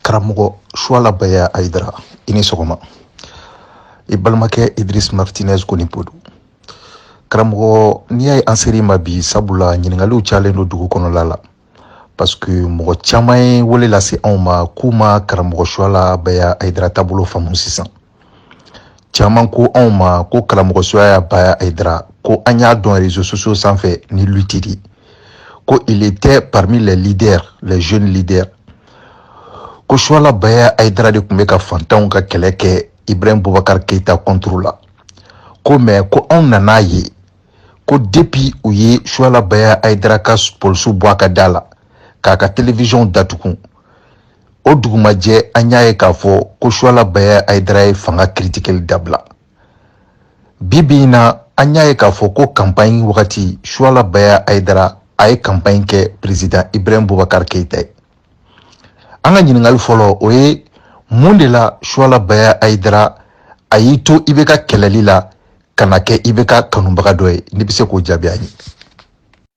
karamɔgɔ suwala baya ayidara i ni sɔgɔma i balimakɛ idris martinez konipo don karamɔgɔ n'i y'a ye an ser'i ma bi sabula ɲininkaliw cayalen don dugu kɔnɔla la parce que mɔgɔ caman ye wele lase anw ma k'u ma karamɔgɔ suwala baya ayidara taabolo faamu sisan caman ko anw ma ko karamɔgɔ suwala baya ayidara ko an y'a dɔn réseaux sociaux sanfɛ ni lutte di ko il était parmi les leaders les jeunes leaders ko suwala baya ayidara de tun bɛ ka fantanw ka kɛlɛ kɛ ibrahim bubakar keita contre la ko mais ko anw nan'a ye ko depuis u ye suwala baya ayidara ka polisiw bɔ a ka da la k'a ka télévision datugun o dugumajɛ an y'a ye k'a fɔ ko suwala baya ayidara ye fanga kiritikeli dabila bi bi in na an y'a ye k'a fɔ ko kanpaɲi wagati suwala baya ayidara a ye kanpaɲi kɛ perezida ibrahim bubakar keyita ye an ka ɲininkali fɔlɔ o ye mun de la suwala baya ayidara a y'i to ibk kɛlɛli la ka na kɛ ibk kanubaga dɔ ye n'i bɛ se k'o jaabi an ye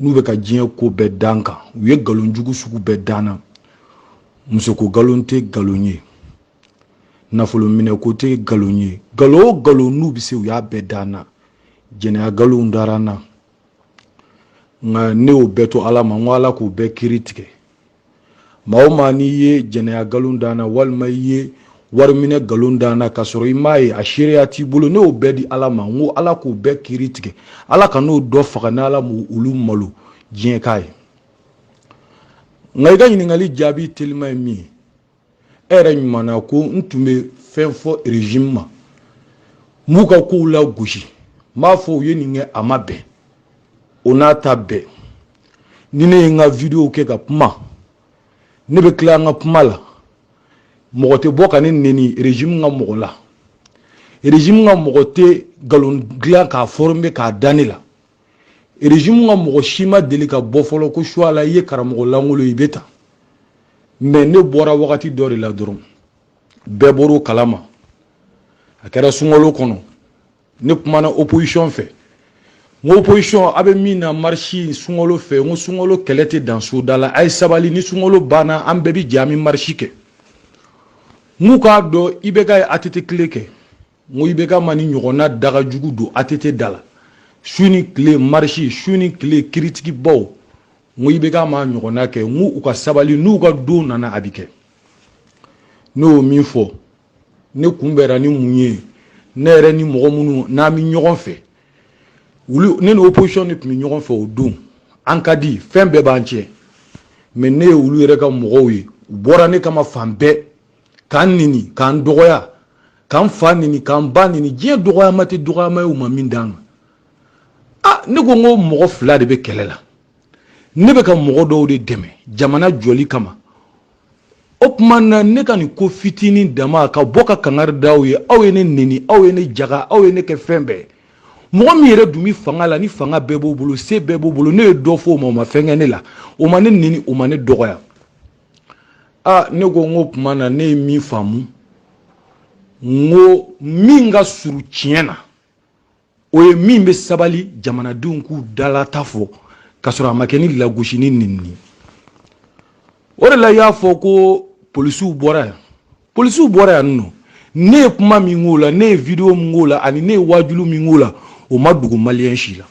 n'u bɛ ka diɲɛ ko bɛɛ da n kan u ye nkalon jugu sugu bɛɛ da n na musoko nkalon tɛ nkalon ye nafolo minɛ ko tɛ nkalon ye nkalon o nkalon n'u bɛ se u y'a bɛɛ da n na jɛnɛya nkalon dara n na nka ne y'o bɛɛ to ala ma n ko ala k'o bɛɛ kiri tigɛ maa o maa n'i ye jɛnɛya nkalon da n na walima i ye wariminɛ nkalon da n na k'a sɔrɔ i m'a ye a seereya t'i bolo ne y'o bɛɛ di ala ma n ko ala k'o bɛɛ kiri tigɛ ala kan'o dɔ faga ni ala ma olu malo diɲɛ k'a ye nka i ka ɲininkali jaabi telima ye min ye e yɛrɛ ɲumanna ko n tun bɛ fɛn fɔ régime ma n b'u ka kow lagosi n b'a fɔ u ye nin kɛ a ma bɛn o n'a ta bɛɛ ni ne ye n ka video kɛ ka kuma ne bɛ tila n ka kuma la mɔgɔ tɛ bɔ ka ne neni régime ka mɔgɔ la régime ka mɔgɔ tɛ nkalon dilan k'a former k'a da ne la régime ka mɔgɔ si ma deli ka bɔ fɔlɔ ko suwala i ye karamɔgɔ langolo i bɛ ta mais ne bɔra wagati dɔ de la dɔrɔn bɛɛ bɔr'o kalama a kɛra sunkalo kɔnɔ ne kumana opposition fɛ n ko opposition a bɛ min na marisi sunkalo fɛ n ko sunkalo kɛlɛ tɛ dan soda la a ye sabali ni sunkalo banna an bɛɛ bɛ jɛ an bɛ marisi kɛ n k'u k'a dɔn ibk ye att kile kɛ n ko IBK ma nin ɲɔgɔnna daga jugu don ATT da la su ni tile marisi su ni tile kiritikibaw n ko IBK ma ɲɔgɔnna kɛ n ko u ka sabali n'u ka don nana a bɛ kɛ ne y'o min fɔ ne kunbɛra ni mun ye ne yɛrɛ ni mɔgɔ minnu n'an bɛ ɲɔgɔn fɛ wuli ne ni opposition de tun bɛ ɲɔgɔn fɛ o don an ka di fɛn bɛɛ b'an cɛ mɛ ne ye olu yɛrɛ ka mɔgɔw ye u bɔra ne kama fan bɛɛ k'an neni k'an dɔgɔya k'an fa neni k'an ba neni diɲɛ dɔgɔyama tɛ dɔgɔyama ye u ma min d'an ma a ne ko n ko mɔgɔ fila de bɛ kɛlɛ la ne bɛ ka mɔgɔ dɔw de dɛmɛ jamana jɔli kama o tuma na ne ka nin ko fitinin dama ka bɔ ka kangari da aw ye aw ye ne neni aw ye ne jaga aw ye ne kɛ fɛn bɛɛ mɔgɔ min yɛrɛ dun bɛ fanga la ni fanga bɛɛ b'o bolo se bɛɛ b'o bolo ne ye dɔ fɔ o ma o ma fɛn kɛ ne la o ma ne neni o ma ne dɔgɔya aa ne ko n ko tuma na ne ye min faamu n ko min ka surun tiɲɛ na o ye min bɛ sabali jamanadenw k'u dalata fɔ k'a sɔrɔ a ma kɛ ni lagosi ni nenini o de la i y'a fɔ ko polisiw bɔra yan polisiw bɔra yan nɔ ne ye kuma min k'o la ne ye video min k'o la ani ne ye waajulu min k'o la o ma dogo maliyɛn si la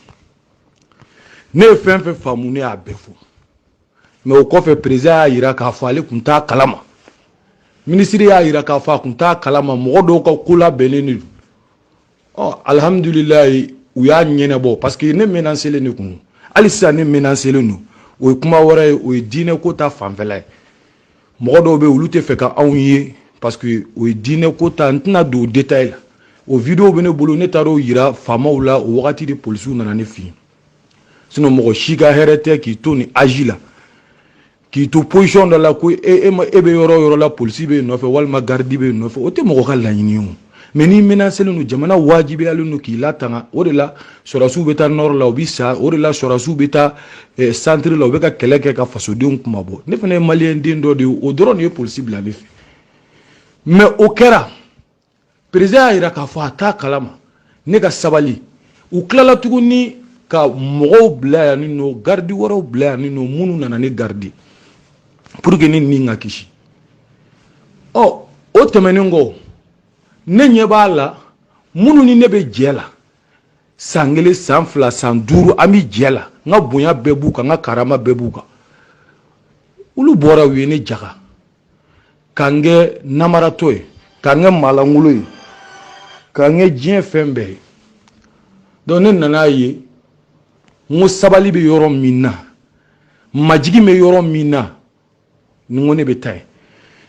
ne ye fɛn fɛn faamu ne y'a bɛɛ fɔ mɛ o kɔfɛ perezidan y'a jira k'a fɔ ale tun t'a kalama minisiri y'a jira k'a fɔ a tun t'a kalama mɔgɔ dɔw ka ko labɛnnen de don ɔ alihamudulilayi u y'a ɲɛnabɔ parce que ne menaselen de kun hali sisan ne menaselen don o ye kuma wɛrɛ ye o ye diinɛ ko ta fanfɛla ye mɔgɔ dɔw bɛ olu tɛ fɛ ka anw ye parce que o ye diinɛ ko ta n tɛna don o détail la o video bɛ ne bolo ne taara o jira faamaw la o wagati de polisiw nana ne fɛ yen sinɔn mɔgɔ si ka hɛrɛ tɛ k'i to nin aji la k'i to posiyɔn dɔ la ko e, e, e bɛ yɔrɔ o yɔrɔ la polisi b'e nɔfɛ walima garidi b'e nɔfɛ o tɛ mɔgɔ ka laɲini ye o mɛ n'i menaselen don jamana wajibiyalen don k'i latanga o de la sɔrɔdasiw bɛ taa nɔrɔ la u bɛ sa o de la sɔrɔdasiw bɛ taa eh, santiri la u bɛ ka kɛlɛ kɛ ka fasodenw kunmabɔ ne fana ye maliyɛn den dɔ de ye o dɔrɔn de ye polisi bila ne fɛ mɛ o kɛra perezidan y'a jira k'a fɔ a t'a kalama ne ka sabali u tilala tuguni ka mɔgɔw bila yan ne nɔ garidi wɛrɛw bila yan ne nɔ minnu nana ne garidi pour que ne ni ka kisi ɔ oh, o tɛmɛnen kɔ ne ɲɛ b'a la minnu ni ne bɛ jɛ la san kelen san fila san duuru an bɛ jɛ la n ka bonya bɛɛ b'u kan n ka karama bɛɛ b'u kan olu bɔra u ye ne jaga ka n kɛ namaratɔ ye ka n kɛ maalankolon ye ka n kɛ diɲɛ fɛn bɛɛ ye donc ne nan'a ye n ko sabali bɛ yɔrɔ min na majigin bɛ yɔrɔ min na n ko ne bɛ taa yen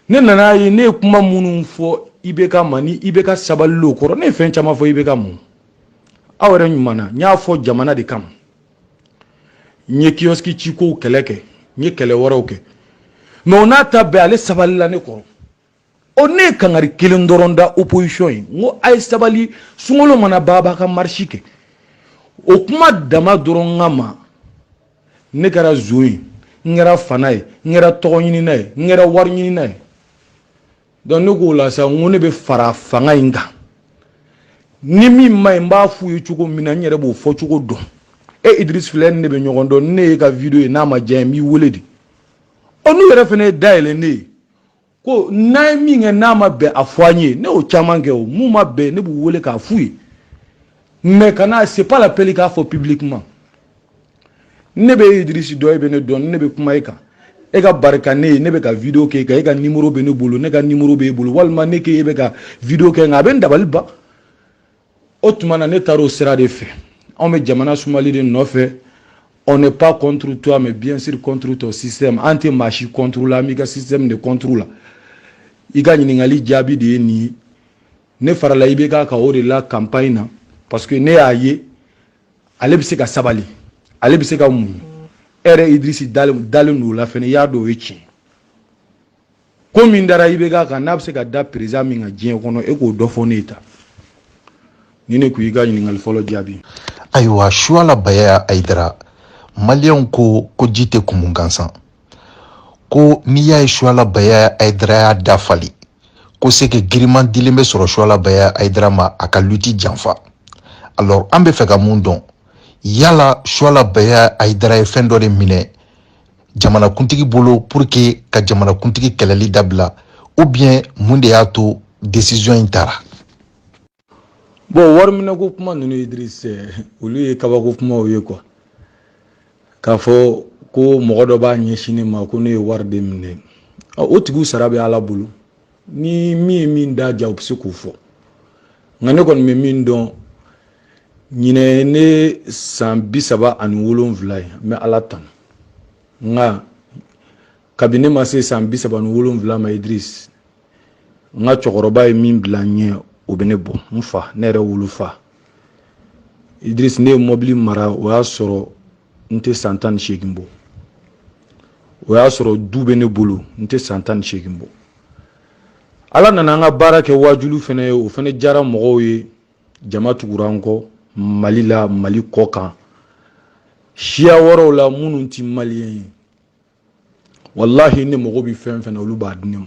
ne nan'a ye ne ye kuma minnu fɔ ibk ma ni ibk sabalila o kɔrɔ ne ye fɛn caman fɔ ibk mun aw yɛrɛ ɲuman na n y'a fɔ jamana de kama n ye kiyoski cikow kɛlɛ kɛ n ye kɛlɛ wɛrɛw kɛ mais o n'a ta bɛɛ ale sabalila ne kɔrɔ o ne ye kangari kelen dɔrɔn da opposition ye n ko a ye sabali sunkalo mana ban a b'a ka marisi kɛ o kuma dama dɔrɔn kama ne kɛra zon ye n kɛra fana ye n kɛra tɔgɔ ɲinina ye n kɛra wari ɲinina ye donc ne k'o la sa n ko ne bɛ fara fanga in kan ni min man ɲi n b'a f'u ye cogo min na n yɛrɛ b'o fɔ cogo dɔn e idris filɛ ne bɛ ɲɔgɔn dɔn ne y'e ka video ye n'a ma diya n b'i wele de olu yɛrɛ fana ye da yɛlɛ ne ye ko n'an ye min kɛ n'a ma bɛn a fɔ an ye ne y'o caman kɛ o min ma bɛn ne b'u wele k'a f'u ye mais kana c'est pas la peine k'a fɔ publiquement ne bɛ idirisi dɔn e bɛ ne dɔn ne bɛ kuma e kan e ka barika ne ye ne bɛ ka video k'e kan e ka nimoro bɛ ne bolo ne ka nimoro b'e bolo walima ne k'e bɛ ka video kɛ nka a bɛ n dabali ban o tuma na ne taara o sira de fɛ anw bɛ jamana sumali de nɔfɛ on n'est pas contre toi mais bien sûr contre ton système an tɛ maa si contre la an b'i ka système de contre la i ka ɲininkali jaabi de ye nin ye ne farala ibk kan o de la campagne na parce que ne y'a ye ale bɛ se ka sabali ale bɛ se ka muɲu e yɛrɛ idirisi dalen don o la fɛnɛ i y'a dɔn o ye tiɲɛ ko min dara ibk kan n'a bɛ se ka da perezidan min kan diɲɛ kɔnɔ e k'o dɔ fɔ ne ye tan nin de kun y'i ka ɲininkali fɔlɔ jaabi ayiwa suwala baya ayidara maliyɛnw ko ko ji tɛ kumu gansan ko n'i y'a ye suala baya ayidara y'a da falen ko sɛki giriman dilen bɛ sɔrɔ suala baya ayidara ma a ka luti janfa alors an bɛ fɛ ka mun dɔn yala suala baya ayidara ye fɛn dɔ de minɛ jamanakuntigi bolo pour que ka jamanakuntigi kɛlɛli dabila ou bien mun de y'a to décision in tara bon wariminɛko kuma ninnu ye dirisi olu ye kabako kumaw ye quoi k'a fɔ ko mɔgɔ dɔ b'a ɲɛsin ne ma ko ne ye wari de minɛ o tigiw sara bɛ ala bolo ni min ye min da diya o bɛ se k'o fɔ nka ne kɔni bɛ min dɔn ɲinan ne san bi saba ani wolonwula ye n bɛ ala tanu nka kabini ne ma se san bi saba ni wolonwula ma idirisi n ka cɛkɔrɔba ye min bila n ɲɛ o bɛ ne bɔ n fa ne yɛrɛ wolofa idirisi ne ye mɔbili mara o y'a sɔrɔ n tɛ san tan ni seegin bɔ o y'a sɔrɔ du bɛ ne bolo n tɛ san tan ni seegin bɔ ala nana an ka baara kɛ waajulu fana ye o fana diyara mɔgɔw ye jama tugura an kɔ mali la mali kɔkan siya wɛrɛw la minnu tɛ maliyɛn ye walahi ne mago bɛ fɛn fɛn na olu b'a di ne ma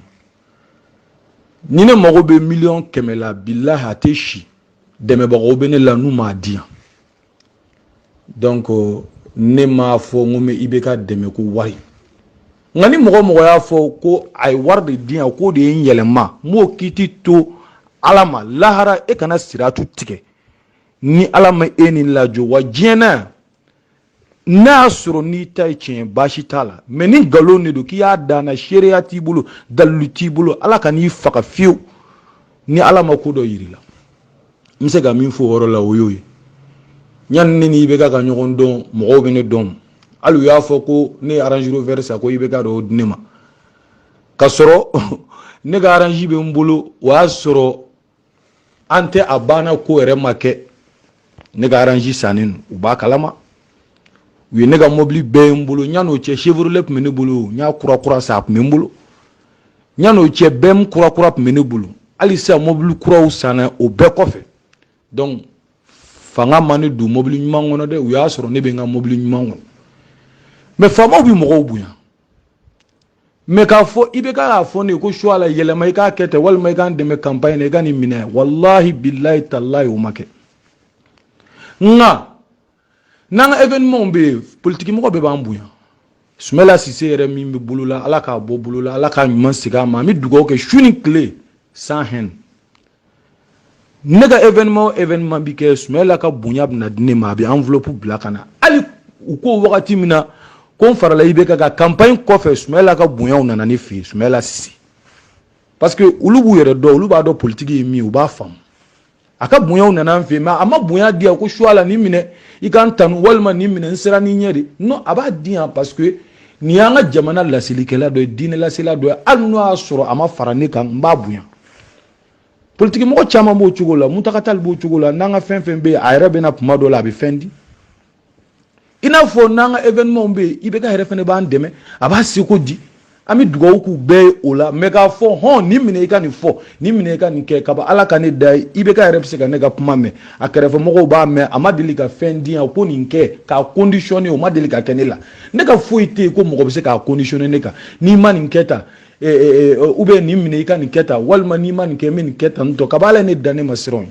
ni ne mago bɛ miliyɔn kɛmɛ la bilahi a tɛ si dɛmɛbagaw bɛ ne la n'u m'a di yan donc ne m'a fɔ n ko n bɛ IBK dɛmɛ ko wari nka ni mɔgɔ mɔgɔ y'a fɔ ko a ye wari de di yan k'o de ye n yɛlɛma n b'o kiti to ala ma lahara e kana siratu tigɛ ni ala ma e ni lajɔ wa diɲɛ na yan n'a y'a sɔrɔ n'i ta ye tiɲɛ baasi t'a la mɛ ni nkalon de don k'i y'a da n na seereya t'i bolo dalilu t'i bolo ala kan'i faga fewu ni ala ma ko dɔ yir'i la n bɛ se ka min fɔ o yɔrɔ la o y'o ye yanni ne ni IBK ka ɲɔgɔn dɔn mɔgɔw bɛ ne dɔn hali u y'a fɔ ko ne ye range rover san ko IBK dɔ di ne ma ka sɔrɔ ne ka range bɛ n bolo o y'a sɔrɔ an tɛ a banna ko yɛrɛ ma kɛ ne ka range sannen don u b'a kalama u ye ne ka mɔbili bɛɛ ye n bolo yan'o cɛ chevrolet tun bɛ ne bolo n y'a kurakura san a tun bɛ n bolo yan'o cɛ BM kurakura tun bɛ ne bolo hali sisan mɔbili kuraw sanna o bɛɛ kɔfɛ donc fanga ma ne don mɔbili ɲuman kɔnɔ dɛ u y'a sɔrɔ ne bɛ n ka mɔbili ɲuman kɔnɔ mɛ faamaw bɛ mɔgɔw bonya mɛ k'a fɔ IBK k'a fɔ ne ye ko suwala yɛlɛma i k'a kɛ ten walima i k'an dɛmɛ kanpaɲi na i ka nin minɛ walahi bilahi talahi o ma kɛ nka n'an ka evenimɛnw bɛ yen politikimɔgɔ bɛɛ b'an bonya sumayila sise yɛrɛ min bɛ bolo la ala k'a bɔ bolo la ala k'a ɲuman segin a ma an bɛ dugawu kɛ su ni tile sans haine ne ka événement o événement bi kɛ Sumayila ka bonya bɛna di ne ma a bɛ enveloppe bila ka na hali u ko wagati min na ko n farala IBK kan campagne kɔfɛ Sumayila ka bonyaw nana ne fɛ yen Sumayila Sise parce que olu b'u yɛrɛ dɔn olu b'a dɔn politiki ye min ye u b'a faamu a ka bonyaw nana an fɛ yen mais a ma bonya di yan ko Suwala nin minɛ i ka n tanu walima nin minɛ n sera ni ɲɛ de non a b'a di yan parce que nin y'an ka jamana laselikɛla dɔ ye diinɛ lasela dɔ ye hali n'o y'a sɔrɔ a ma fara ne kan n b'a bonya politiki mɔgɔ caman b'o cogo la muntaka tali b'o cogo la n'an ka fɛn fɛn bɛ yen a yɛrɛ bɛ na tuma dɔ la a bɛ fɛn di i n'a fɔ n'an ka evenimɛnw bɛ yen ibeka yɛrɛ fɛnɛ b'an dɛmɛ a b'a seko di an bɛ dugawu k'u bɛɛ ye o la mɛ k'a fɔ hɔn nin minɛ i ka nin fɔ nin minɛ i ka nin kɛ kaba ala ka ne da ye ibeka yɛrɛ bɛ se ka ne ka kuma mɛn a kɛrɛfɛmɔgɔw b'a mɛn a ma deli ka fɛn di yan ko nin kɛ k'a kondisiyɔne o ma deli ka kɛ ne la ne ka foyi tɛ yen ko mɔgɔ bɛ se k'a kondisiyɔne ne kan n'i ma nin kɛ tan e, e, e, ou bien nin minɛ i ka nin kɛ tan walima n'i ma nin kɛ n bɛ nin kɛ tan tɔ kaba ala ye ne dan ne ma siran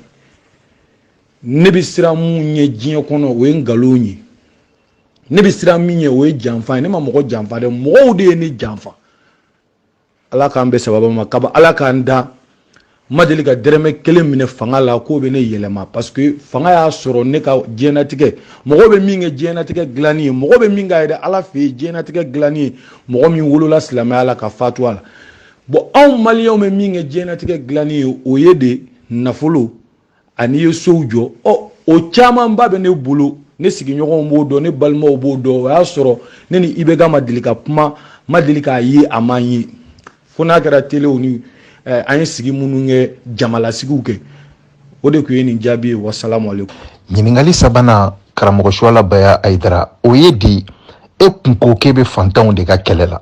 ne bɛ siran mun ɲɛ diɲɛ kɔnɔ o ye nkalon ye ne bɛ siran min ɲɛ o ye janfa ye ne ma mɔgɔ janfa dɛ mɔgɔw de ye ne janfa ala k'an bɛn sababa ma kaba ala k'an da n ma deli ka dɛrɛmɛ kelen minɛ fanga la k'o bɛ ne yɛlɛma parce que fanga y'a sɔrɔ ne ka diɲɛnatigɛ mɔgɔ bɛ min kɛ diɲɛnatigɛ dilanni ye mɔgɔ bɛ min ka yɛrɛ ala fɛ yen diɲɛnatigɛ dilanni ye mɔgɔ min wolola silamɛya la ka fatu a la bon anw maliyɛnw bɛ min kɛ diɲɛnatigɛ dilanni ye o ye de nafolo ani i ye sow jɔ ɔ o camanba bɛ ne bolo ne sigiɲɔgɔnw b'o dɔn ne balimaw b'o dɔn o y'a sɔrɔ ne ni ibeka ma deli ka kuma ma deli k'a ye a ma n ye fo n'a kɛra telew ni eh, an ye sigi minnu kɛ jamalasigiw kɛ o de tun ye nin jaabi ye wasalamu alekum ɲininkali sabanan karamɔgɔ suwala baya ayidara o ye di e kun ko k'e bɛ fantanw de ka kɛlɛ la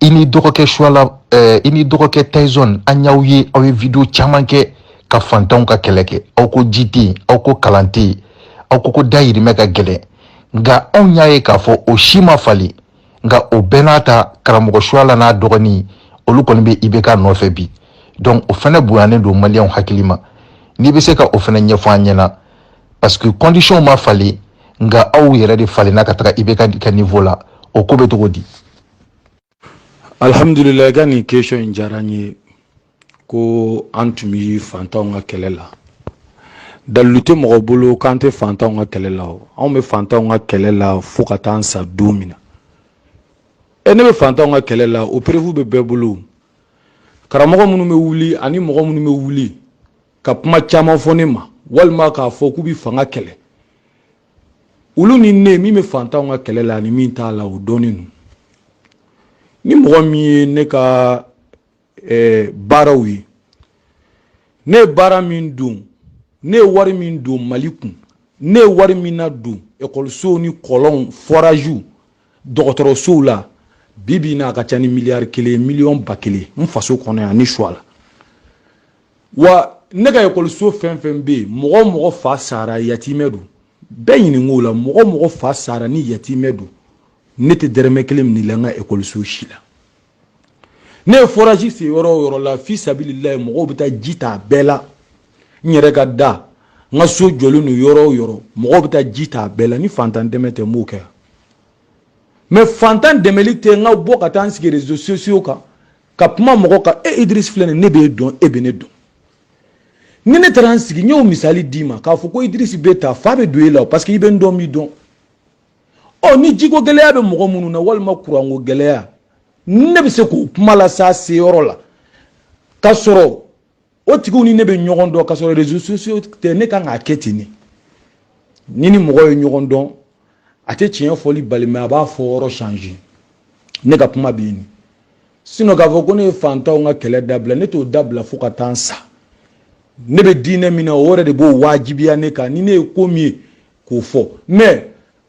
i ni dɔgɔkɛ suala eh, i ni dɔgɔkɛ taison an y'aw ye aw ye video caman kɛ ka fantanw ka kɛlɛ kɛ aw ko ji tɛ yen aw ko kalan tɛ yen aw ko ko dayirimɛ ka gɛlɛn nka anw y'a ye k'a fɔ o si ma falen nka o bɛɛ n'a ta karamɔgɔ suala n'a dɔgɔnin olu kɔni bɛ ibk nɔfɛ bi donc o fana bonyanen don maliyɛnw hakili ma n'i bɛ se ka o fana ɲɛfɔ an ɲɛna parce que condition ma falen nka aw yɛrɛ de falenna ka taga ibk ka niveau la o ko bɛ cogo di alhamdulila i ka nin question in diyara n ye ko an tun bɛ fantanw ka kɛlɛ la dalilu tɛ mɔgɔ bolo k'an tɛ fantanw ka kɛlɛ la o anw bɛ fantanw ka kɛlɛ la fo ka taa an sa don min na e ne bɛ fantanw ka kɛlɛ la o preuve bɛ bɛɛ bolo karamɔgɔ minnu bɛ wuli ani mɔgɔ minnu bɛ wuli ka kuma caman fɔ ne ma walima k'a fɔ k'u bɛ fanga kɛlɛ olu ni ne min bɛ fantanw ka kɛlɛ la ani min t'a la o dɔnnen don ni mɔgɔ min ye ne ka eh, baaraw ye ne ye baara min don ne ye wari min don mali kun ne ye wari min nadon ekɔlisow ni kɔlɔnw foraziw dɔgɔtɔrɔsow la bi bi na a ka ca ni miliyari kelen miliyɔn ba kelen n faso kɔnɔ yan ne suwala wa ne ka ekɔliso fɛn fɛn bɛ yen mɔgɔ o mɔgɔ fa sara yatimɛ don bɛɛ ɲinink'o la mɔgɔ o mɔgɔ fa sara ni yatimɛ don ne tɛ dɛrɛmɛ kelen minɛ i la n ka ekɔliso si la ne ye forage sen yɔrɔ o yɔrɔ la fi sabililayi mɔgɔw bɛ taa ji ta a bɛɛ la n yɛrɛ ka da n ka so jɔlen don yɔrɔ o yɔrɔ mɔgɔw bɛ taa ji ta a bɛɛ la ni fantan dɛmɛ tɛ n b'o kɛ mais fantan dɛmɛli tɛ n ka bɔ ka taa n sigi réseaux sociaux kan ka kuma mɔgɔ kan e idirisi filɛ nin ne b'e dɔn e bɛ ne dɔn ni ne taara n sigi n y'o misali d'i ma k'a fɔ ko idirisi bɛ ta fa bɛ don e la parce que i bɛ n dɔn n b'i dɔn ɔ ni jiko gɛlɛya bɛ mɔgɔ minnu na walima kuranko gɛlɛya ne bɛ se k'o kuma las'a seyɔrɔ la ka sɔrɔ o tigiw ni ne bɛ ɲɔgɔn dɔn ka sɔrɔ réseaux sociaux tɛ ne kan k'a kɛ ten de ni ni mɔgɔ ye ɲɔgɔn dɔn a tɛ tiɲɛ fɔli bali mais a b'a fɔ yɔrɔ changer ne ka kuma bɛ yen sinon k'a fɔ ko ne ye fantanw ka kɛlɛ dabila ne t'o dabila fo ka taa n sa ne bɛ diinɛ min na o yɛrɛ de b'o wajibiya ne kan ni ne ye ko min ye k'o fɔ mais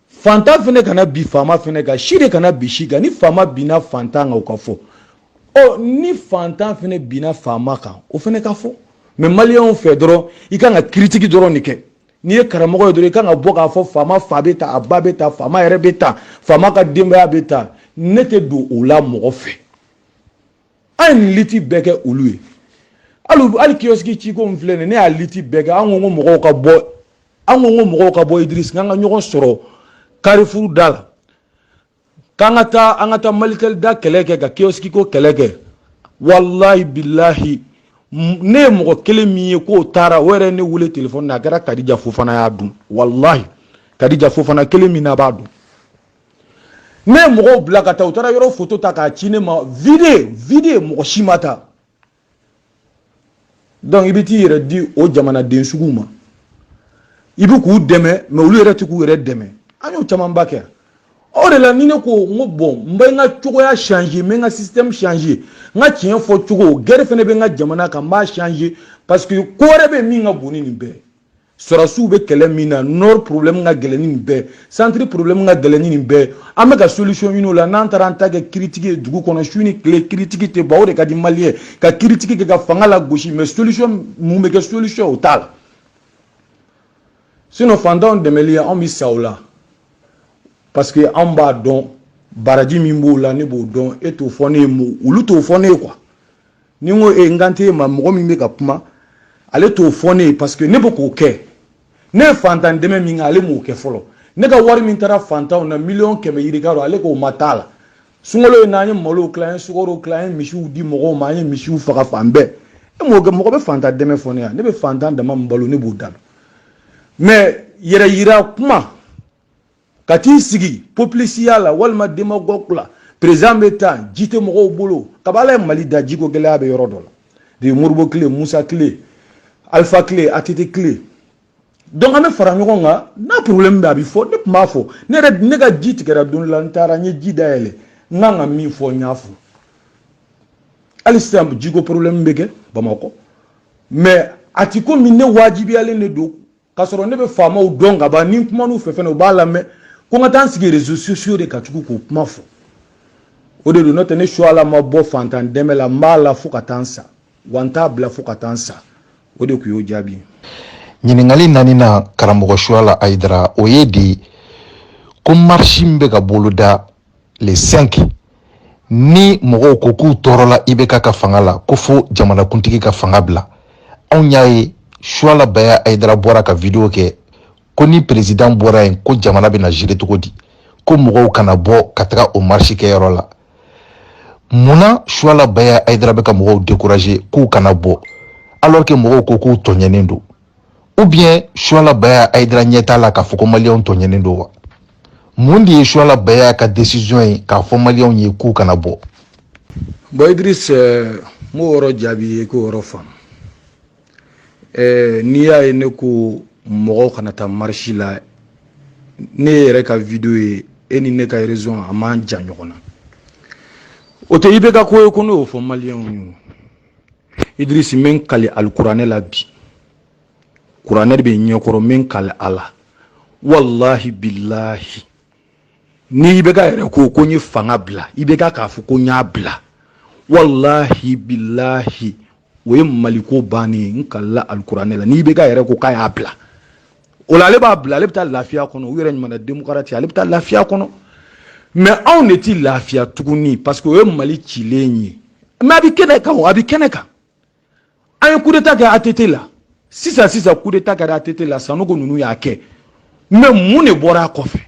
fantan fana kana bin faama fana kan si de kana bin si kan ni faama binna fantan kan o ka fɔ ɔ ni fantan fana binna faama kan o fana ka fɔ mais maliyɛnw fɛ dɔrɔn i kan ka critique dɔrɔn de kɛ n'i ye karamɔgɔ ye dɔrɔn i kan ka bɔ k'a fɔ faama fa bɛ ta a ba bɛ ta faama yɛrɛ bɛ ta faama ka denbaya bɛ ta ne tɛ don o la mɔgɔ fɛ an ye liti bɛɛ kɛ olu ye hali hali kiyɔsiki ciko in filɛ nin ne y'a liti bɛɛ kɛ an ko ko mɔgɔw ka bɔ an ko ko mɔgɔw ka bɔ idirisi k'an ka ɲɔgɔn sɔrɔ karifuru da la k'an ka taa an ka taa malitɛli da kɛlɛ kɛ ka kiyɔsiki ko kɛlɛ kɛ walahi bilahi ne ye mɔgɔ kelen min ye k'o taara o yɛrɛ ne wele telefɔni na a kɛra kadija fofana y'a dun walahi kadija fofana kelen min na b'a dun ne ye mɔgɔw bila ka taa u taara yɔrɔ foto ta k'a ci ne ma vide vide mɔgɔ si ma taa donc i bɛ t'i yɛrɛ di o jamanaden suguw ma i bɛ k'u dɛmɛ mais olu yɛrɛ tɛ k'u yɛrɛ dɛmɛ an y'o camanba kɛ o de la ni ne ko n ko bon n bɛ n ka cogoya changer n bɛ n ka système changer n ka tiɲɛ fɔ cogo gɛrɛ fana bɛ n ka jamana kan n b'a changer parce que ko wɛrɛ bɛ min ka bon ni nin bɛɛ sɔrɔdasiw bɛ kɛlɛ min na nord problème ka gɛlɛn ni nin bɛɛ centre problème ka gɛlɛn ni nin bɛɛ an bɛ ka solution ɲini o la n'an taara an ta kɛ critique ye dugu kɔnɔ su ni tile critique tɛ ban o de ka di maliyɛn ka critique kɛ ka fanga lagosi mais solution mun bɛ kɛ solution o t'a la sinon fantanw dɛmɛli anw bɛ sa o la parce que anw b'a dɔn baraji min b'o la ne b'o dɔn e t'o fɔ ne ye olu t'o fɔ ne ye quoi ni n ko e n kan tɛ e ma mɔgɔ min bɛ ka kuma ale t'o fɔ ne ye parce que ne bɛ k'o kɛ ne ye fantan dɛmɛ min kɛ ale m'o kɛ fɔlɔ ne ka wari min taara fantanw na miliyɔn kɛmɛ yirika don ale k'o ma t'a la sunkalo in na an ye malow tila an ye sukaro tila an ye misiw di mɔgɔw ma an ye misiw faga fan bɛɛ e m'o kɛ mɔgɔ bɛ fantan dɛmɛ fɔ ne yan ne bɛ fantan dama min balo ne b'o da dɔn mais yɛrɛ yira kuma ka t'i sigi popilisiya la walima demagɔg la perezan bɛ tan ji tɛ mɔgɔw bolo kaba ala ye mali da jiko gɛlɛya bɛ yɔrɔ dɔ la de modibo kile musa kile alifa kile ATT kile donc an bɛ fara ɲɔgɔn kan n'a problème bɛ a bɛ fɔ ne tun b'a fɔ ne yɛrɛ ne ka ji tigɛra don la n taara n ye ji dayɛlɛ n kan ka min fɔ n y'a fɔ hali sisan jiko problème bɛ kɛ bamakɔ mais a ti komi ne wajibiyalen de don k'a sɔrɔ ne bɛ faamaw dɔn ka ban ni n kuman'u fɛ fɛnɛ u b'a lamɛn ko n ka taa n sigi réseaux sociaux de kan tugun k'o kuma fɔ o de don n'o tɛ ne suala ma bɔ fantan dɛmɛ la n b'a la fo ka taa n sa wa n t'a bila fo ka taa n sa o de tun y'o jaabi ye ɲininkali naaninan karamɔgɔ suala ayidara o ye di ko marisi min bɛ ka boloda le 5 ni mɔgɔw ko k'u tɔɔrɔla IBK ka fanga la ko fo jamanakuntigi ka fanga bila anw y'a ye suala baya ayidara bɔra ka video kɛ ko ni perezidan bɔra yen ko jamana bɛna gérer cogo di ko mɔgɔw kana bɔ ka taga o marisi kɛyɔrɔ la mun na suala baya ayidara bɛ ka mɔgɔw dekuraze k'u kana bɔ alors que mɔgɔw ko k'u tɔɲɛnen don ou bien suwala baya ayidara ɲɛ t'a la k'a fɔ ko maliyɛnw tɔɲɛnen don wa mun de ye suwala baya ka desiziyɔn ye k'a fɔ maliyɛnw ye k'u kana bɔ bɔn idirisi n b'o yɔrɔ jaabi i ye k'o yɔrɔ faamu eh, n'i y'a ye ne ko mɔgɔw kana taa marisi la ne yɛrɛ ka video ye e ni ne ka rezon a man jan ɲɔgɔn na o tɛ IBK ko ye ko ne y'o fɔ maliyɛnw ye idrisi n bɛ n kali alikuranɛ la bi kuranɛ de bɛ n ɲɛkɔrɔ n bɛ n kali a la walahi bilahi ni IBK yɛrɛ ko ko n ye fanga bila IBK k'a fɔ ko n y'a bila walahi bilahi o ye maliko bannen ye n kalila alikuranɛ la ni IBK yɛrɛ ko k'a y'a bila o la ale b'a bila ale bɛ taa lafiya kɔnɔ u yɛrɛ ɲuman demokarati ale bɛ taa lafiya kɔnɔ mɛ anw de ti lafiya tuguni parce que o ye mali cilen ye mɛ a bɛ kɛnɛ kan a bɛ kɛnɛ kan an ye kudeta kɛ ATT la sisan sisan kudeta kɛra ATT la Sanogo ninnu y'a kɛ mɛ mun de bɔra a kɔfɛ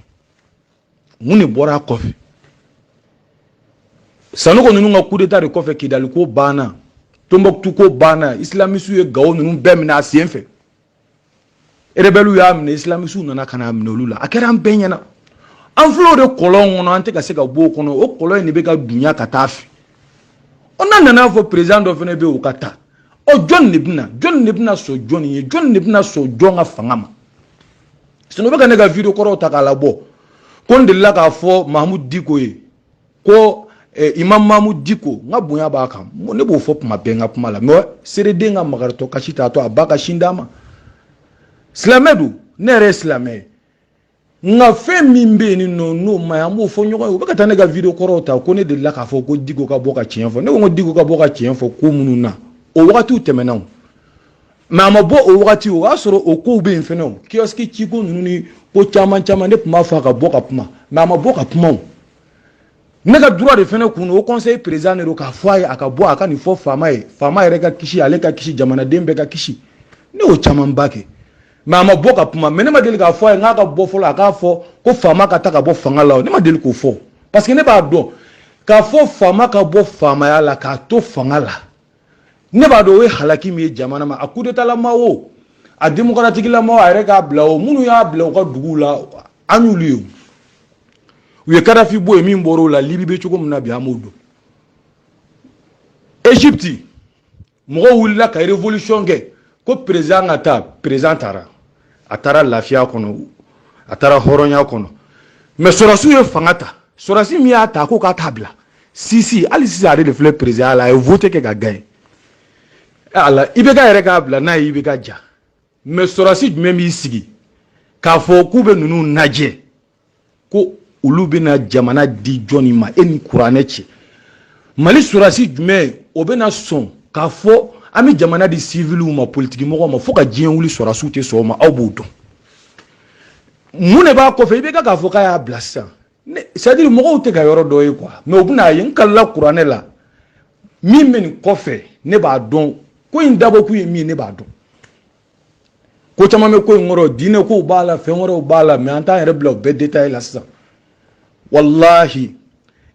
mun de bɔra a kɔfɛ Sanogo ninnu ka kudeta de kɔfɛ Kidali ko banna Tombouctou ko banna islamisiw ye Gao ninnu bɛɛ minɛ a sen fɛ rebɛliw y'a minɛ isilamisiw nana ka n'a minɛ olu la a kɛra an bɛɛ ɲɛna an filɛ o de kɔlɔn kɔnɔ an tɛ ka se ka bɔ o kɔnɔ o kɔlɔn in de bɛ ka dunya ka taa a fɛ ɔ n'a nana fɔ perezan dɔ fana bɛ yen o ka taa ɔ jɔn de bɛna jɔn de bɛna sɔn jɔn ye jɔn de bɛna sɔn jɔn ka fanga ma sinɔn u bɛ ka ne ka video kɔrɔw ta k'a labɔ ko n delila k'a fɔ mahamudu diko ye ko eh, imam mahamud diko n ka bonya b'a kan ne b'o fɔ tuma bɛɛ n ka kuma la mɛ sɛrɛden ka makaritɔ kasi t'a to a ba ka sin d'a ma silamɛ don ne yɛrɛ ye silamɛ ye nka fɛn min bɛ yen n'o man ɲi an b'o fɔ ɲɔgɔn ye u bɛ ka taa ne ka video kɔrɔw ta ko ne delila k'a fɔ ko diko ka bɔ ka tiɲɛ fɔ ne ko n ko diko ka bɔ ka tiɲɛ fɔ ko minnu na o wagatiw tɛmɛna o mɛ a ma bɔ o wagati o y'a sɔrɔ o kow bɛ yen fɛnɛ o kiyɔsiki ciko ninnu ni ko caman caman ne tun b'a fɔ a ka bɔ ka kuma mɛ a ma bɔ ka kuma o ne ka droit de fɛnɛ kunun haut conseil président de don k'a fɔ a ye a ka bɔ a ka nin fɔ faama ye faama yɛrɛ ka kisi ale ka kisi jamanaden bɛɛ ka kisi ne y'o camanba kɛ mɛ a ma bɔ ka kuma mɛ ne ma deli k'a fɔ a ye n k'a ka bɔ fɔlɔ a k'a fɔ ko faama ka taa ka bɔ fanga la o ne ma deli k'o fɔ parce que ne b'a dɔn k'a fɔ faama ka bɔ faamaya la k'a to fanga la ne b'a dɔn o ye halaki min ye jamana ma a kudetalama o a demokaratikilama a yɛrɛ k'a bila o minnu y'a bila u ka duguw la an y'olu ye u ye kadafi bɔ yen min bɔra o la libi bɛ cogo min na bi an b'o dɔn egypte mɔgɔw wulila ka révolution kɛ ko président ka taa président taara a taara lafiya kɔnɔ a taara hɔrɔnya kɔnɔ mɛ sɔrasiw ye fanga ta sɔrasi min y'a ta ko k'a t'a bila sisi hali sisan ale de filɛ président la a ye vote kɛ ka gaɲe a la ibk yɛrɛ k'a bila n'a ye ibk diya mɛ sɔrasi jumɛn b'i sigi k'a fɔ k'u bɛ ninnu lajɛ ko olu bɛna jamana di jɔni ma e ni kuranɛ cɛ mali sɔrasi jumɛn o bɛna sɔn k'a fɔ an bɛ jamana di siviliw ma politikimɔgɔw ma fo ka diɲɛ wuli sɔrasiw tɛ sɔn o ma aw b'o dɔn mun de b'a kɔfɛ ibk k'a fɔ k'a y'a bila sisan c'est à dire mɔgɔw tɛ ka yɔrɔ dɔ ye quoi mais u bɛna a ye n kalila kuranɛ la min bɛ nin kɔfɛ ne b'a dɔn ko in dabɔkun ye min ye ne b'a dɔn ko caman bɛ ko in kɔrɔ diinɛ kow b'a la fɛn wɛrɛw b'a la mɛ an t'an yɛrɛ bila o bɛɛ détail la sisan walahi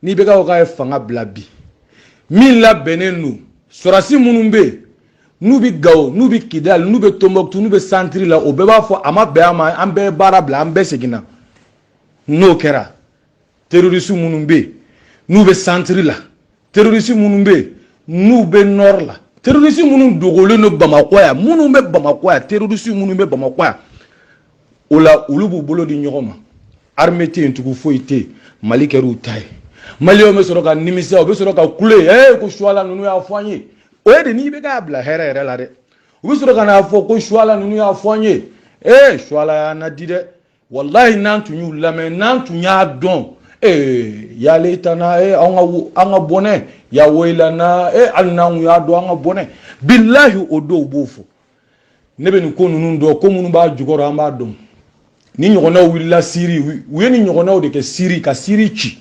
ni ibk ye fanga bila bi min labɛnnen don sɔrasi minnu bɛ yen n'u bɛ gawo n'u bɛ kidali n'u bɛ tombouctou n'u bɛ santiri la o bɛɛ b'a fɔ an ma bɛn a ma an bɛɛ ye baara bila an bɛɛ seginna n'o kɛra terroriste minnu bɛ yen n'u bɛ santiri la terroriste minnu bɛ yen n'u bɛ nɔri la terroriste minnu dogolen don bamakɔ yan minnu bɛ bamakɔ yan terroriste minnu bɛ bamakɔ yan o la olu b'u bolo di ɲɔgɔn ma armée tɛ yen tugun foyi tɛ yen mali kɛra u ta ye maliyɛnw bɛ sɔrɔ ka nimisa u bɛ sɔrɔ ka kule ee ko suwala ninnu y'a fɔ an ye o ye de ni ibk y'a bila hɛrɛ yɛrɛ la dɛ u bɛ sɔrɔ ka n'a fɔ ko suwala ninnu y'a fɔ an ye ee suwala y'an laadi dɛ walayi n'an tun y'u lamɛn n'an tun y'a dɔn ee ya layitana ee an ka an ka bɔnɛ ya woyilana ee hali n'an tun y'a dɔn an ka bɔnɛ bilahi o dɔw b'o fɔ ne bɛ nin ko ninnu dɔn ko minnu b'a jukɔrɔ an b'a dɔn nin ɲɔgɔnnaw wulila siri u ye nin ɲɔgɔnnaw de kɛ siri ka siri ci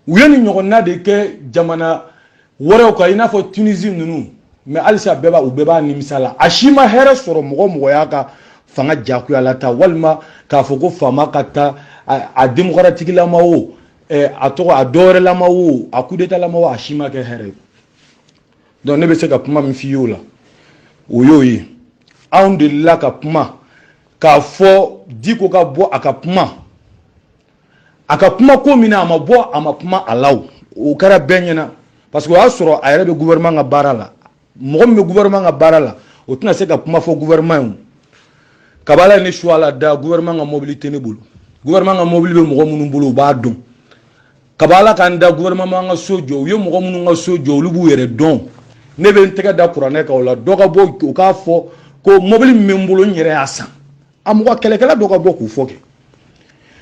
u ye nin ɲɔgɔnna de kɛ jamana wɛrɛw kan i n'a fɔ tunisi ninnu mais halisa bɛɛ b'a u bɛɛ b'a nimisa la a si ma hɛrɛ sɔrɔ mɔgɔ mɔgɔ y'a ka fanga jagoya la ta walima k'a fɔ ko faama ka ta a demokaratikilama o eh, a tɔgɔ a dɔwɛrɛlama o a kudetalama o a si ma kɛ hɛrɛ ye donc ne bɛ se ka kuma min f'i y'o la o y'o ye anw delila ka kuma k'a fɔ diko ka bɔ a ka kuma a ka kuma ko min na a ma bɔ a ma kuma a la o o kɛra bɛɛ ɲɛna parce que o y'a sɔrɔ a yɛrɛ bɛ gouvernement ka baara la mɔgɔ min bɛ gouvernement ka baara la o tɛna se ka kuma fɔ gouvernement ye o k'a bɔ ala ye ne Suwala da gouvernement ka mobili tɛ ne bolo gouvernement ka mobili bɛ mɔgɔ minnu bolo u b'a dɔn k'a bɔ ala k'an da gouvernement ka so jɔ u ye mɔgɔ minnu ka so jɔ olu b'u yɛrɛ dɔn ne bɛ n tɛgɛ da kuranɛ kan o la dɔ ka bɔ o k'a fɔ ko mobili min bɛ n bolo n yɛrɛ y'a san a mɔgɔ kɛlɛkɛla dɔ ka bɔ k'o fɔ kɛ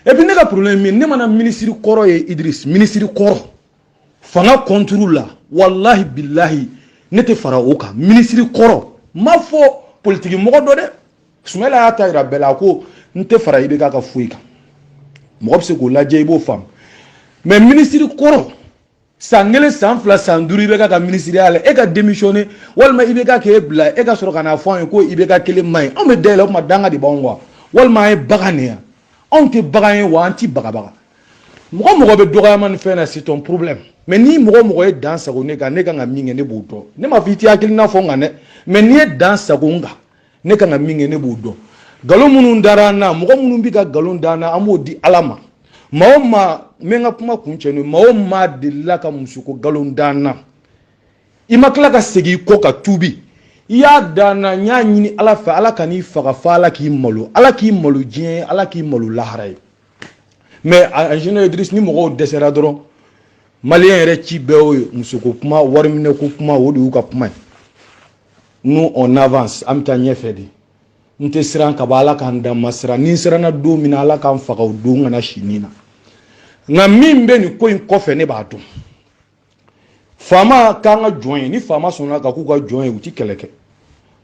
et puis ne ka problème min ne mana minisiri kɔrɔ ye Idriss minisiri kɔrɔ fanga contre la walahi bilahi ne tɛ fara o kan minisiri kɔrɔ ma fɔ politiki mɔgɔ dɔ dɛ Sumayila y'a ta yira bɛɛ la a ko n tɛ fara IBK ka foyi kan mɔgɔ bɛ se k'o lajɛ i b'o faamu mais minisiri kɔrɔ san kelen san fila san duuru IBK ka minisiriya la e ka demisiyɔne walima IBK k'e bila e ka sɔrɔ ka n'a fɔ an ye ko IBK kelen man ɲi anw bɛ da e la o tuma danga de b'anw kan walima an ye bagan de ye anw tɛ bagan ye wa an ti bagabaga mɔgɔ mɔgɔ bɛ dɔgɔyama ni fɛn na c'est ton problème mais ni mɔgɔ mɔgɔ ye dan sagon ne kan ne kan ka min kɛ ne b'o dɔn ne ma fɔ i tɛ hakilina fɔ n kan dɛ mais n'i ye dan sagon n kan ne kan ka min kɛ ne b'o dɔn nkalon minnu dara an na mɔgɔ minnu bɛ ka nkalon da an na an b'o di ala ma maa o maa n bɛ n ka kuma kuncɛ n'o ye maa o maa delila ka musoko nkalon da an na i ma tila ka segin i kɔ ka tuubi i y'a da an na n y'a ɲini ala fɛ ala kan'i faga fo ala k'i malo ala k'i malo diɲɛ ye ala k'i malo lahara ye mais en général idris ni mɔgɔw dɛsɛra dɔrɔn maliyɛn yɛrɛ ci bɛɛ y'o ye musoko kuma wariminɛko kuma o de y'u ka kuma ye nous on avance an bɛ taa ɲɛfɛ de n tɛ siran ka bɔ ala ka n da n ma siran ni n siranna don min na ala ka n faga o don kana si nin na nka min bɛ nin ko in kɔfɛ ne b'a dɔn faama k'an ka jɔn ye ni faama sɔnna ka k'u ka jɔn ye u ti kɛlɛ kɛ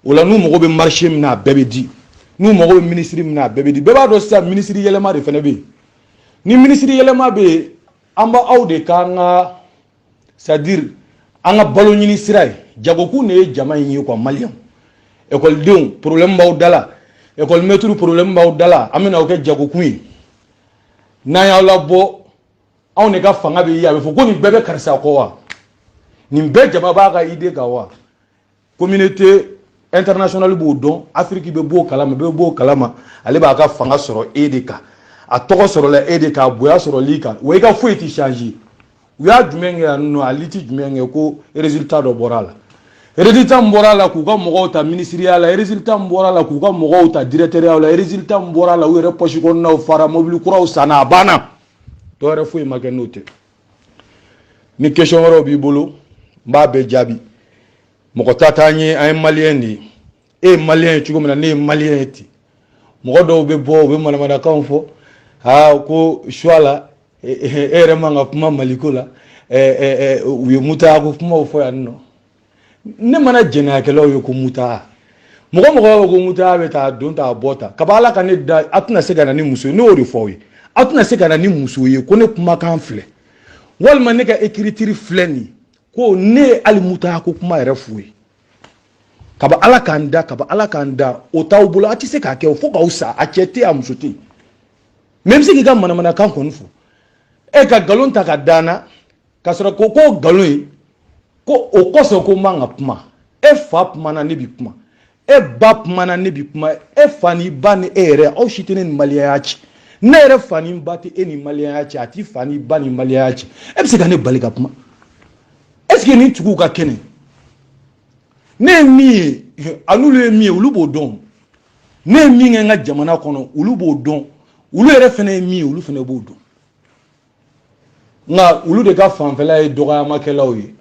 o la n'u mago bɛ marise min na a bɛɛ bɛ di n'u mago bɛ minisiri min na a bɛɛ bɛ di bɛɛ b'a dɔn sisan minisiri yɛlɛma de fana bɛ yen ni minisiri yɛlɛma bɛ yen an b'aw de k'an ka c'est à dire an ka balo ɲini sira ye jagokun de ye jama in ye quoi maliyɛnw ekɔlidenw problème b'aw da la ekɔlimɛtiriw problème b'aw da la an bɛna aw kɛ jagokun ye n'an y'aw labɔ anw de ka fanga bɛ ye a bɛ fɔ ko nin bɛɛ bɛ karisa kɔ wa nin bɛɛ jama b'a ka ide kan wa communauté internationale b'o dɔn afiriki bɛɛ b'o kalama bɛɛ b'o kalama ale b'a ka fanga sɔrɔ e de kan a tɔgɔ sɔrɔla e de kan a bonya sɔrɔl'i kan wa i ka foyi tɛ changer u y'a jumɛn kɛ yan nɔ a lutte jumɛn kɛ ko résultat dɔ bɔra a la résultat min bɔra a la k'u ka mɔgɔw ta minisiriya la résultat min bɔra a la k'u ka mɔgɔw ta directɛriyaw la résultat min bɔra a la u yɛrɛ pɔsi kɔnɔnaw fara mobili kuraw sanna a banna dɔ wɛrɛ foyi ma kɛ n'o tɛ ni question wɛrɛw b'i bolo n b'a bɛɛ jaabi mɔgɔ ta t'an ye an ye maliyɛn de ye e ye maliyɛn ye cogo min na ne ye maliyɛn ye ten mɔgɔ dɔw bɛ bɔ u bɛ manamanakanw fɔ aa ko suwala e yɛrɛ man ka kuma maliko la u ye mutako kumaw fɔ yan nɔ ne mana jɛnɛyakɛlaw ye ko muta mɔgɔ mɔgɔ ko muta bɛ taa don ta bɔ ta kaba ala ka ne da a tɛna se ka na ni muso ye ne y'o de fɔ aw ye a tɛna se ka na ni muso ye ko ne kumakan filɛ walima ne ka ekiritiri filɛ nin ko ne ye hali muta ko kuma yɛrɛ f'u ye kaba ala k'an da kaba ala k'an da o t'aw bolo a tɛ se k'a kɛ o fo k'aw sa a cɛ tɛ a muso tɛ mais i bɛ se k'i ka manamanakan kɔni fɔ e ka nkalon ta k'a da n na k'a sɔrɔ ko k'o nkalon ye ko o kosɔn ko n man ka kuma e fa kumana ne bi kuma e ba kumana ne bi kuma e fa ni ba ni e yɛrɛ aw si tɛ ne ni maliyɛnya cɛ ne yɛrɛ fa ni ba tɛ e ni maliyɛnya cɛ a t'i fa ni ba ni maliyɛnya cɛ e bɛ se ka ne bali ka kuma est ce que nin tigiw ka kɛnɛ ne ye min ye a n'olu ye min ye olu b'o dɔn ne ye min kɛ n ka jamana kɔnɔ olu b'o dɔn olu yɛrɛ fana ye min ye olu fana b'o dɔn nka olu de ka fanfɛla ye dɔgɔyamakɛlaw ye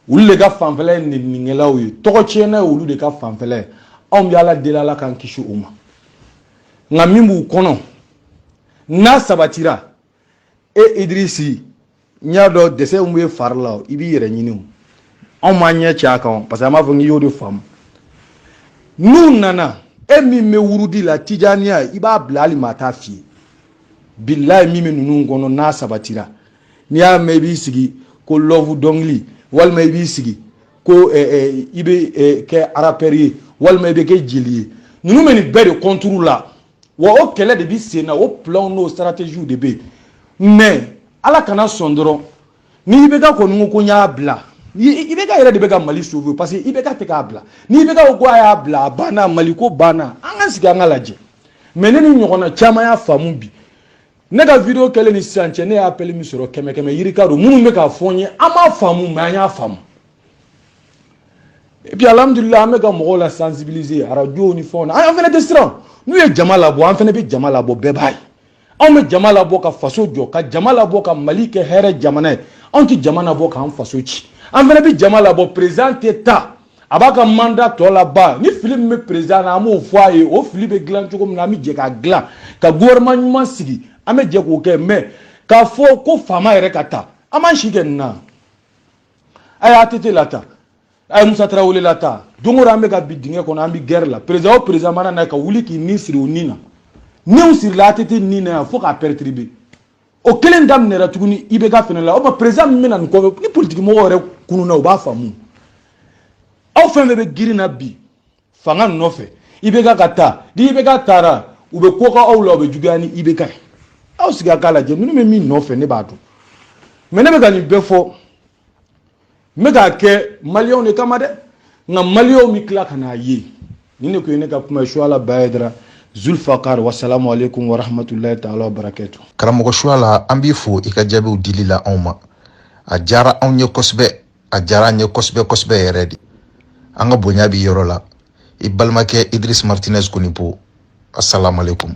olu de ka fanfɛla ye neninikɛlaw ye tɔgɔtiɲɛna ye olu de ka fanfɛla ye anw bɛ ala deli ala k'an kisi o ma nka min b'u kɔnɔ n'a sabatira e idirisi n'i y'a dɔn dɛsɛ min bɛ fari la i b'i yɛrɛ ɲini o anw m'an ɲɛ cɛ a kan parce que an b'a fɔ n'i y'o de faamu n'u nana e min bɛ wurudi la tijaniya i b'a bila hali maa t'a f'i ye bilayi min bɛ ninnu kɔnɔ n'a sabatira n'i y'a mɛn i b'i sigi ko love dɔnkili walima i b'i sigi ko eh, eh, i bɛ eh, kɛ arapɛri ye walima i bɛ kɛ jeli ye ninnu bɛ nin bɛɛ de kɔnturu la wa o kɛlɛ de bɛ sen na o pilanw n'o sitarateziw de bɛ yen mais ala kana sɔn dɔrɔn ni IBK kɔni ko ko n y'a bila IBK yɛrɛ de bɛ ka mali sauver parce que IBK tɛ k'a bila ni IBK ko a y'a bila a banna mali ko banna an ka sigi an k'a lajɛ mais ne ni ɲɔgɔnna caman y'a faamu bi ne ka video kɛlen ni sisan cɛ ne ye appel min sɔrɔ kɛmɛ kɛmɛ yirika don minnu bɛ k'a fɔ n ye an m'a faamu mais an y'a faamu et puis alhamdulillah an bɛ ka mɔgɔw la sensibiliser arajow ni fɛnw na an fana tɛ siran n'u ye jama labɔ an fana bɛ jama labɔ bɛɛ b'a ye anw bɛ jama labɔ ka faso jɔ ka jama labɔ ka mali kɛ hɛrɛ jamana ye anw tɛ jama labɔ k'an faso ci an fana bɛ jama labɔ perezidan tɛ taa a b'a ka manda tɔ laban ni fili min bɛ perezidan na an b'o fɔ a ye o fili bɛ dilan cogo min na an bɛ jɛ k'a dilan ka gouvernement ɲuman sigi an bɛ jɛ k'o kɛ mɛ k'a fɔ ko faama yɛrɛ ka taa an b'an si kɛ nin na a y'atete lataa a ye musa tarawele lataa don o don an bɛ ka bin dingɛ kɔnɔ an bɛ gɛrɛ la perezidan o perezidan mana na ka wuli k'i ni siri o ni na n'u sirila atete ni na yan fo k'a pɛrɛtiribe o kelen daminɛra tuguni ibeka fɛnɛ la o ma perezidan min bɛ na nin kɔfɛ ni politikimɔgɔ yɛrɛ kununna u b'a faamu aw fɛn fɛn bɛ girin na bi fanga nɔfɛ ibeka ka taa ni ibeka taara u bɛ ko k'aw la u bɛ juguya ni ibeka ye aw sigi a k'a lajɛ ninnu bɛ min nɔfɛ ne b'a dɔn mɛ ne bɛ ka nin bɛɛ fɔ n bɛ k'a kɛ maliyɛnw de kama dɛ nka maliyɛnw bɛ tila ka n'a ye ni ne ko ye ne ka kuma suwala baye dara zulfakar wasalamu aleykum warahmatulahi taala wa barakatuhu karamɔgɔ suwala an b'i fo i ka jaabiw dili la anw ma a diyara anw ye kosɛbɛ a diyara an ye kosɛbɛ kosɛbɛ yɛrɛ de an ka bonya b'i yɔrɔ la i balimakɛ idris martinez konipo asalamu aleykum